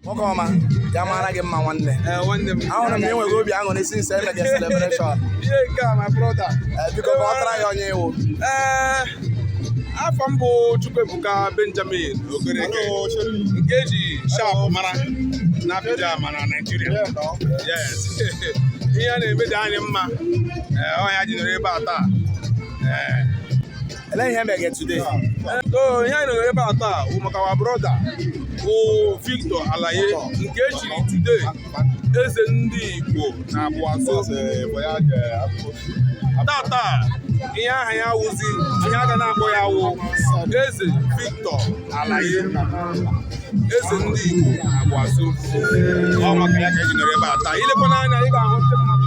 nwoke ọma ya mara gị mma nwanne ahụrụ m na i nwege obi aṅụrị since emege celebration biko kọwatara anyị onye ị wụ aha m bụ Chukwuebuka Benjamin Okereke nke eji Sharp mara na Abidjan ma na Naịjirịa ihe a na-eme dị anyị mma ọ ya eji nọrọ ebe a taa Ele ihe mege today? So ihe anyị nọrọ ebe a taa bụ maka our brother bụ Victor Alaye nke echiri today eze ndị Igbo na Aboisso. Tata ihe aha ya wụzi ihe a ga na-akpọ ya wụ eze Victor Alaye eze ndị Igbo na Aboisso. Ọ maka ya ka eji nọrọ ebe a taa. I lekwa anya ị ga-ahụ ndị mmadụ.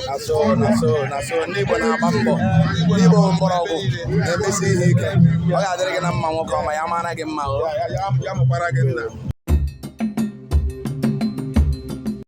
na-asụ na-asụ na-asụ ndị Igbo na-agba mbọ ndị Igbo bụ odogwu na-emesi ihe ike ọ ga-adịrị gị na mma nwoke ọma ya mara gị mma o ya makwara gị nna